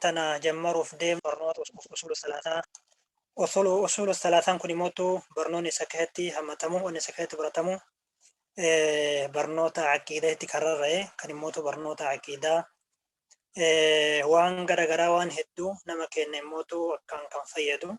tana jammaruuf deemnu barnoota usuulu salaataa usuulu usuulu salaataan kun immoo barnoonni isa keessatti hammatamu wanni isa keessatti baratamu barnoota aqiidaa itti kararra'e kan immoo barnoota aqiidaa waan garaagaraa waan hedduu nama kenna immoo akkaan kan fayyadu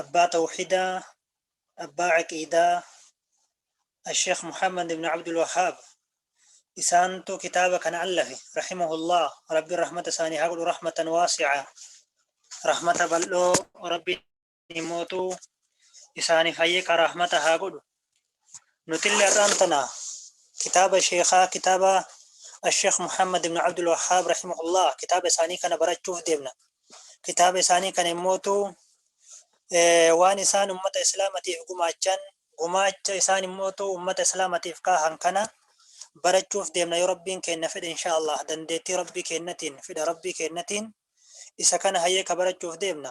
abbaa tawhidaa abbaa aqiidaa Asheekh Muhammad ibn Abdul Wahhaab isaantu kitaaba kana allafe rahimahullah rabbiin rahmata isaanii haa godhu rahmatan waasi'a rahmata bal'oo rabbiin mootu isaaniif hayyeqa rahmata haa godhu Nutillee har'aan tana kitaaba sheekaa kitaaba Asheekh Muhammad ibn Abdul Wahhaab rahimahullah kitaaba isaanii kana barachuuf deemna. Kitaaba isaanii kana immootu waan isaan ummata islaamatiif gumaachan gumaacha isaan immootu ummata islaamatiif kaahan kana barachuuf deemna yoo rabbiin keenna fedhe inshaallah dandeettii rabbii keennatiin fedha rabbii keennatiin isa kana hayyee ka barachuuf deemna.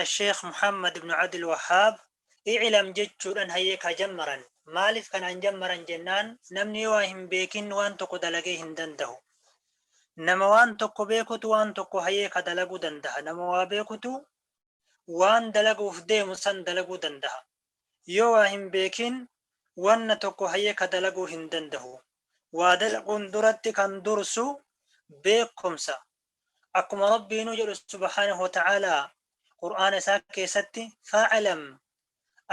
Asheekh Muhammad ibnu Abdul Wahhaab, I'lam jechuudhan hayyee ka jammaran. Maaliif kanaan jammaran jennaan, namni yoo waa hin beekin waan tokko dalagee hin dandahu. Nama waan tokko beekutu waan tokko hayyee ka dalaguu dandaha. Nama waa beekutu waan dalaguuf deemu san dalaguu dandaha. Yoo waa hin beekin wanna tokko hayyee ka dalaguu hin dandahu. Waa dalaguun duratti kan dursu beekkomsa. akkuma rabbiinuu jedhu subhaanahu wa ta'aalaa qur'aana isaa keessatti fa'alam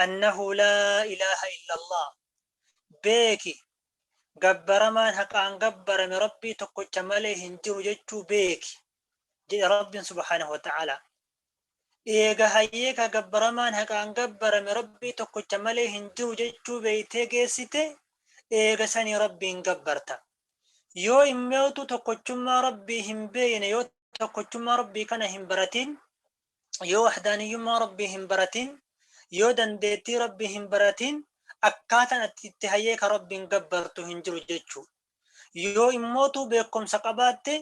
annahu laa ilaaha illallah beeki gabbaramaan haqaan gabbarame rabbii tokkocha malee hin jiru jechuu beeki jedhe rabbiin subhaanahu wa ta'aalaa eega hayyee ka gabbaramaan haqaan gabbarame rabbii tokkocha malee hin jiru jechuu beeytee geessite eega sanii rabbiin gabbarta yoo immewtu tokkochummaa rabbii hin beeyne yoo tokkochummaa rabbii kana hin baratin yoo wahdaaniyyummaa rabbii hin baratin yoo dandeettii rabbii hin baratin akkaataan ati itti hayyee ka rabbiin gabbartu hin jiru jechuu yoo immootu beekumsa qabaatte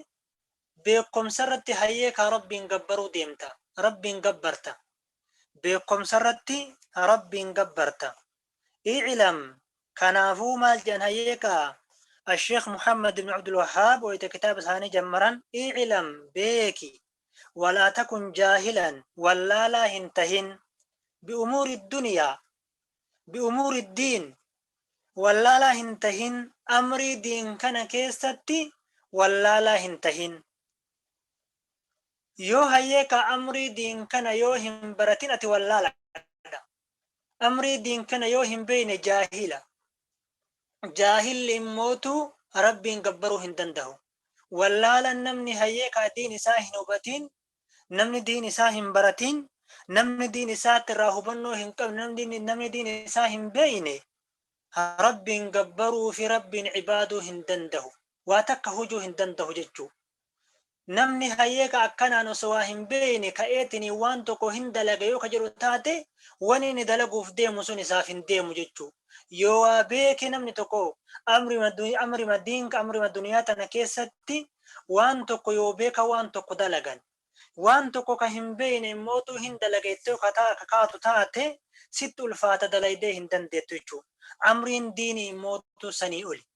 beekumsa irratti hayyee ka rabbiin gabbaruu deemta rabbiin gabbarta beekumsa irratti rabbiin gabbarta I'lam, Kanaafuu maal jedhan hayyeekaa Asheekh Muhammad ibn Abdul Wahhaab wayita kitaaba isaanii jammaran I'lam, Beeki, walaa takun jaahilan, wallaalaa hin tahin, bi'umuuri duniyaa, bi'umuuri diin, wallaalaa hin tahin, amrii diin kana keessatti wallaalaa hin tahin. Yoo hayyeekaa amrii diin kana yoo hin baratin ati wallaala. Amrii diin kana yoo hin beeyne jaahila. Jaahilli immootu Rabbiin gabbaruu hin dandahu. Wallaalan namni hayyee kaa diin isaa hin hubatiin, namni diin isaa hin baratiin, namni diin isaatti irraa hubannoo hin qabne, namni, namni diin isaa hin beeyne Rabbiin gabbaruu fi Rabbiin ibaaduu hin dandahu. Waa takka hujuu hin dandahu jechuu. Namni hayee ka akkanaan osoo waa hin beeyne ka'eetiniin waan tokko hin dalaga yoo ka jedhu taate, wanni inni dalaguuf deemu sun isaaf hin deemu jechuu. Yoo waa beeke namni tokko amrima dun, amrima diin, amrima duniyaa tana keessatti waan tokko yoo beeka waan tokko dalagan. Waan tokko ka hin beeyne immootuu hin dalaga jettee yoo ka ta, ka kaatu taate, sitti ulfaata dalaydee hin dandeettu jechuu. Amriin diinii immootuu sanii oli.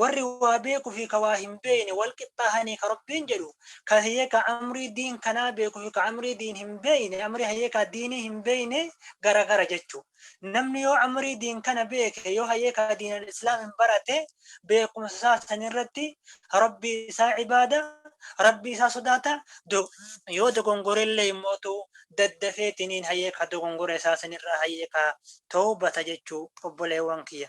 Warri waa beeku fi ka waa hin beeyne wal qixxaahanii ka Rabbiin jedhu, ka heeka amrii diin kanaa beeku fi ka amrii diin hin beeyne, amrii hayeekaa diinii hin beeyne gara gara jechu. Namni yoo amrii diin kana beeke, yoo hayeekaa diin al-islaamin barate, beekumsa isaa san irratti Rabbii isaa cibaada, Rabbii isaa sodaata, yoo dogongore illee immootu daddafeetiniin hayeekaa dogongora isaa san irraa hayeekaa tawbata jechu obboleewwan kiyya.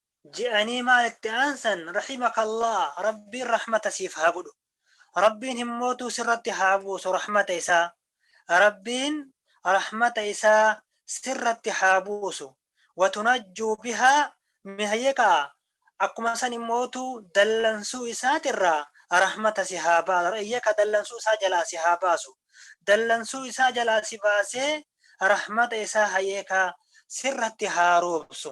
je'anii maal itti aansan rahimakallah rabbiin rahmata siif haa godhu rabbiin himmootuu sirratti haa buusu rahmata isaa rabbiin rahmata isaa sirratti haa buusu watunajjuu bihaa mihyekaa akkuma san immootuu dallansuu isaatirraa rahmata si haa baasu iyyaka dallansuu isaa jalaa si haa baasu dallansuu isaa jalaa si baasee rahmata isaa hayeekaa sirratti haa roobsu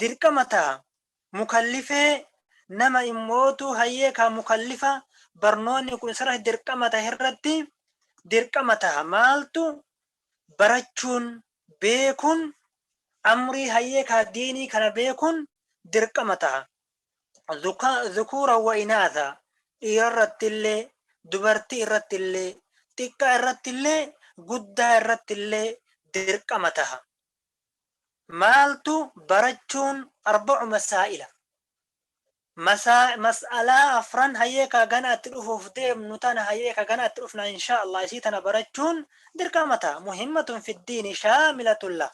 dirqama taha, mukallifee nama immootu hayyee kaa mukallifa barnoonni kun isarratti dirqama tahe irratti dirqama taha maaltu barachuun beekun amrii hayyee kaa diinii kana beekun dirqama taha zukuura wa inaatha dhiira irratti illee dubartii irratti illee xiqqaa irratti illee guddaa irratti illee dirqama taha Maaltu barachuun arba'u masaa'ila? Mas'alaa afran hayee kaa ganaa itti dhufuuf deemnu tana hayee kaa ganaa itti dhufnaa inshaa Allah isii tana barachuun dirqama taha muhimmatun fi diini shaamilatun lah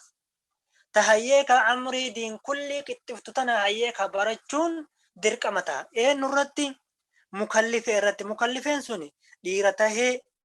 ta hayee kaa amrii diin kullii qixxiftu tana hayee kaa barachuun dirqama taha eennu irratti mukallifee irratti mukallifeen suni dhiira tahee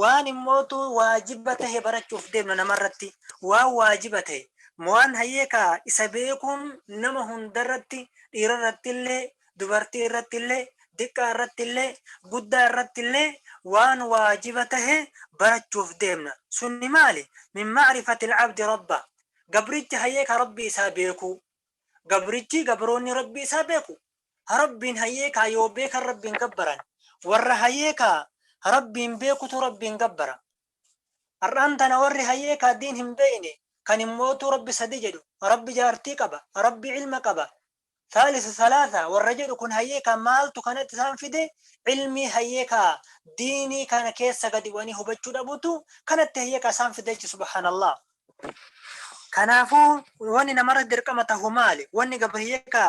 waan immootu waajiba tahe barachuuf deemna namarratti waan waajiba tahe mo'aan hayyee kaa isa beekuun nama hundarratti dhiirarrattillee dubartii irrattillee diqqaa irrattillee guddaa irrattillee waan waajiba tahe barachuuf deemna sunni maali min ma'rifatil abdi rabba gabrichi hayyee kaa rabbii isaa beekuu Gabrichi, gabroonni Rabbii isaa beeku, ha Rabbiin hayee kaa yoo beekan Rabbiin gabbaran, warra hayee kaa ha Rabbiin beekutu Rabbiin gabbara. Har'aan tana warri hayee kaa diin hin beeyne, kan hin mootuu Rabbi sadi jedhu, Rabbi jaartii qaba, Rabbi ilma qaba, Thaalithu thalaatha warra jedhu kun hayee kaa maaltu kanatti isaan fide, ilmii hayee kaa diinii kana keessa gadi bu'anii hubachuu dhabutu kanatti hayee kaa isaan fide jechu subhaanallaah. Kanaafuu wanni namarra dirqama tahu maali? Wanni gabriyyee ka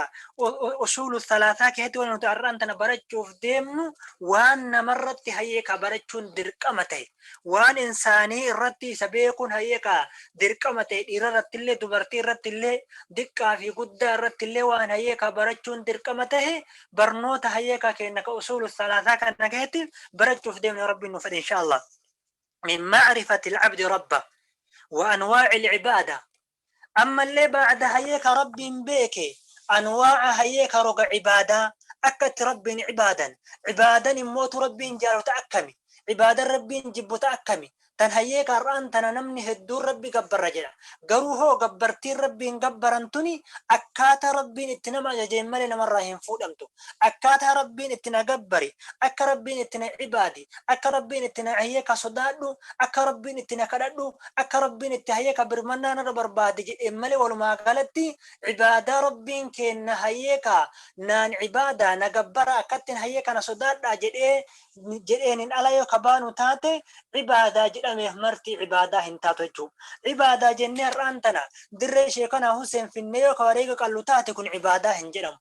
usuulu salaataa keessatti wanni nuti har'aan tana barachuuf deemnu waan namarratti hayyee ka barachuun dirqama tahe waan insaanii irratti isa beekuun hayyee ka dirqama tahe dhiira irratti illee dubartii irratti illee diqqaa fi guddaa irratti illee waan hayyee ka barachuun dirqama tahe barnoota hayyee ka kenna ka usuulu salaataa kana keessatti barachuuf deemnu rabbiin nu fedhe inshaallah. min ma'rifati al-'abdi rabba wa anwaa'i al-'ibaada ammallee ba'da hayyee ka Rabbiin beeke anwaa'a hayyee ka roga 'ibaadaa akka itti Rabbiin 'ibaadan 'ibaadan immoo tu Rabbiin jaalatu ta akkami 'ibaadan Rabbiin jibbu ta akkami tan hayyee ka har'aan tana namni hedduun Rabbi gabbarra jedha garuu hoo gabbartiin Rabbiin gabbaran tuni akkaata Rabbiin itti nama ajajeen malee namarraa hin fuudhamtu Akkaataa Rabbiin itti na gabbari, akka Rabbiin itti na ibaadi, akka Rabbiin itti na hayee ka sodaadhu, akka Rabbiin itti na kadhadhu, akka Rabbiin itti hayee ka birmannaa narra barbaadi jedheen malee walumaa galatti ibaadaa Rabbiin keenna hayee ka naan ibaadaa, na gabbaraa, akkattiin hayee kana sodaadhaa jedhee jedheeniin ala yoo ka baanu taate ibaadaa jedhameef marti ibaadaa hin taatu jechuu. Ibaadaa jennee har'aan tana dirree Sheekanaa Huseen finnee yoo ka wareega qallu taate kun ibaadaa hin jedhamu.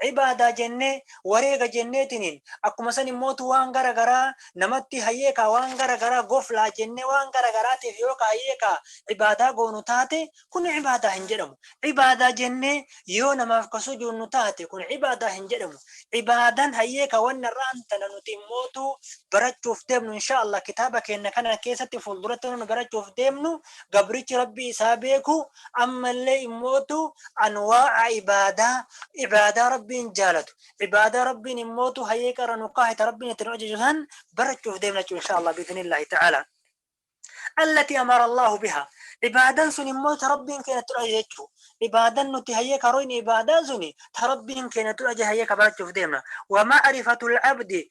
Ibaadaa jennee, wareega jenneetiniin, akkuma san immootu waan gara garaa namatti hayee kaa waan gara garaa goflaa jennee waan gara garaatiif yoo ka hayee kaa ibaadaa goonu taate kun ibaadaa hin jedhamu. Ibaadaa jennee yoo namaaf ka sujuunnu taate kun ibaadaa hin jedhamu. Ibaadan hayee ka wanna irraan tana nuti immootu barachuuf deemnu inshaa Allaah kitaaba keenna kana keessatti fuulduratti wanna nu barachuuf deemnu gabrichi Rabbii isaa beeku Ammallee immootu anwaa'a ibaadaa, ibaadaa Rabbiin jaalatu, ibaadaa Rabbiin immootu hayyee qarra nu kaahe ta Rabbiin itti nu ajaju san barachuuf deemna jechuudha inshaa Allah biiznillaahi ta'aalaa. Allatii amara Allaahu bihaa. Ibaadan sun immoo ta Rabbiin keenya itti nu ajaje jechuu. Ibaadan nuti hayyee karoyne ibaadaa suni ta Rabbiin keenya itti nu ajaje hayyee ka barachuuf deemna. Wa ma'rifatul abdi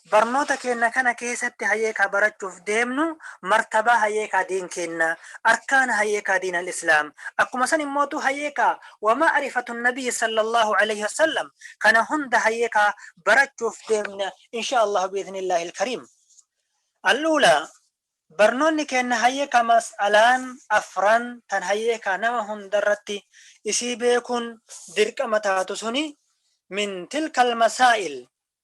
Barnoota keenna kana keesatti hayeekaa barachuuf deemnu martabaa hayeekaa diin keenna, arkaana hayeekaa diin al-islaam, akkuma san immootuu hayeekaa wa ma'rifatu nabiyyi sallallaahu aleeyhi wa sallam kana hunda hayeekaa barachuuf deemna inshaa Allaahu bi'idhnillaah il-kariim. Al-uulaa, Barnoonni keenna hayeekaa mas'alaan afran tan hayeekaa nama hundarratti isii beekuun dirqama taatu suni min tilkal masaa'il,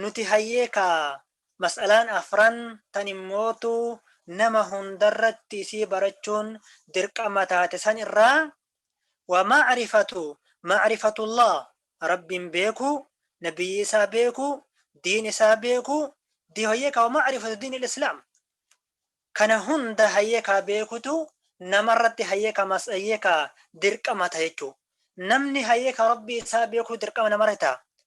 Nuti hayyee kaa mas'alaan afran tan immootu nama hundarratti isii barachuun dirqama taate san irraa, wa ma'rifatu ma'rifatullaah Rabbiin beekuu, Nabiyyii isaa beekuu, diin isaa beekuu, di hayyee kaa wa ma'rifatu diinil islaam kana hunda hayyee kaa beekutu namarratti hayyee kaa mas hayyee kaa dirqama ta jechuu. Namni hayyee kaa Rabbii isaa beekuu dirqama namarratti ta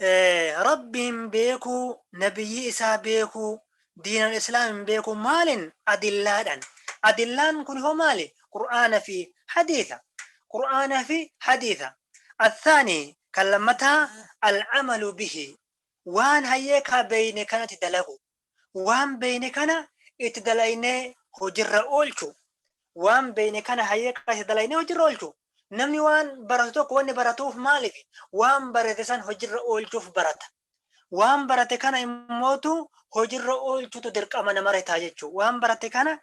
Rabbi hin beekuu, Nabiyyii isaa beekuu, diinal Islaam hin beekuu maalin? Adillaadhan. Adillaan kuni hoo maali? Qur'aana fi hadiitha. Qur'aana fi hadiitha. Athaani kan lammataa al-amalu bihi. Waan hayyee kaa beeyne kanati dalagu. Waan beeyne kana itti dalaynee hojirra oolchuu. Waan beeyne kana hayyee kana itti dalaynee hojirra oolchuu. Namni waan baratu tokko wanni baratuuf maalifi? Waan barate san hojirra oolchuuf barata. Waan barate kana immootu hojirra oolchuutu dirqama namarra ta'a jechuu. Waan barate kana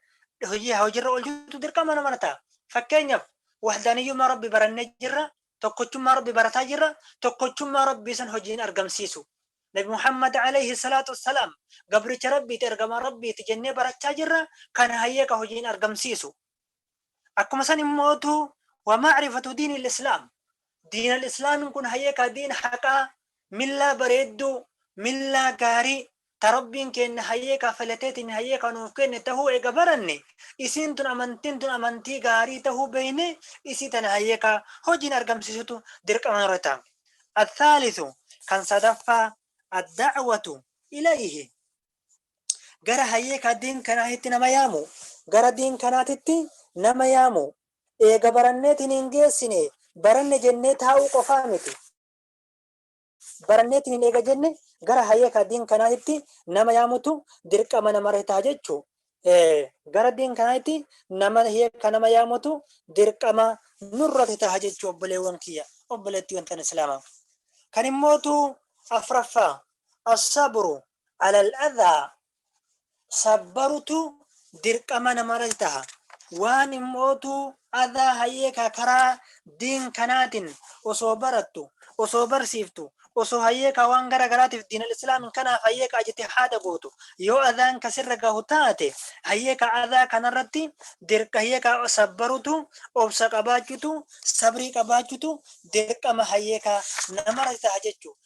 hojii hojirra oolchuutu dirqama namarra ta'a. Fakkeenyaf, wahdaniyyummaa Rabbi barannee jirra, tokkochummaa Rabbi barataa jirra, tokkochummaa Rabbii san hojiin argamsiisu. Nabi Muhammad alayhi salaatu wassalaam gabricha Rabbiiti, ergamaa Rabbiiti jennee barachaa jirra, kana hayee ka hojiin argamsiisu. Akkuma san immootu wa ma'rifatu diinil islaam, diinal islaamiin kun hayee ka diin haqaa, millaa bareedduu, millaa gaarii, ta Rabbiin keenna hayyee ka filateetiin hayyee ka nuuf kenne tahuu eega baranne, isiin tun amantiin tun amantii gaarii tahuu beeynee isii tana hayyee ka hojiin argamsiisutu dirqama nurra taha. Al-thaalithu, kan sadaffaa, Ad-da'watu ilayhi, gara hayyee ka diin kanaatitti nama yaamu, gara diin kanaatitti nama yaamu, eega baranneetiin hin geessine baranne jennee taa'uu qofaa miti, baranneetiin hin eega jenne gara hayeekaa diin kanaatitti nama yaamutu dirqama namarra ta'a jechuu gara diin kanaatti nama hiika nama yaamutu dirqama nurratti ta'a jechuu obboleewwan kiyya obboleetti wantan islaama kan immootu afraffaa assabru alal adhaa sabbarutu dirqama namara taha waan immootu adaa hayyee ka karaa diin kanaatiin osoo barattu osoo barsiiftu osoo hayyee ka waan gara garaatiif diinal islaamin kanaaf hayyee ka ajiti haada gootu yoo adaan ka sirra gahu taate hayyee ka adaa kanarratti dirqa hayyee ka sabbarutu obsa qabaachutu sabrii qabaachutu dirqama hayyee ka namara taha jechuudha.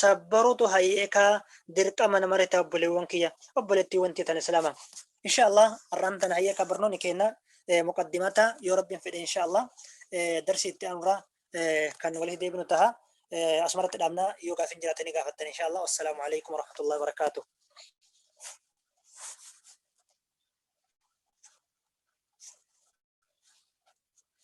sabbarutu hayyeekaa dirqama namarra ta'a obboleewwan kiyya obboleettiiwwan teetan islaama insha allah har'aan tana hayyeekaa barnoonni keenna muqaddimata yoo rabbiin fedhe insha allah darsii itti aanurraa kan walitti deebinu taha asumarratti dhaabnaa yoo gaafin jiraatanii gaafattan insha allah wassalaamu alaikum warahmatullahi wabarakaatuh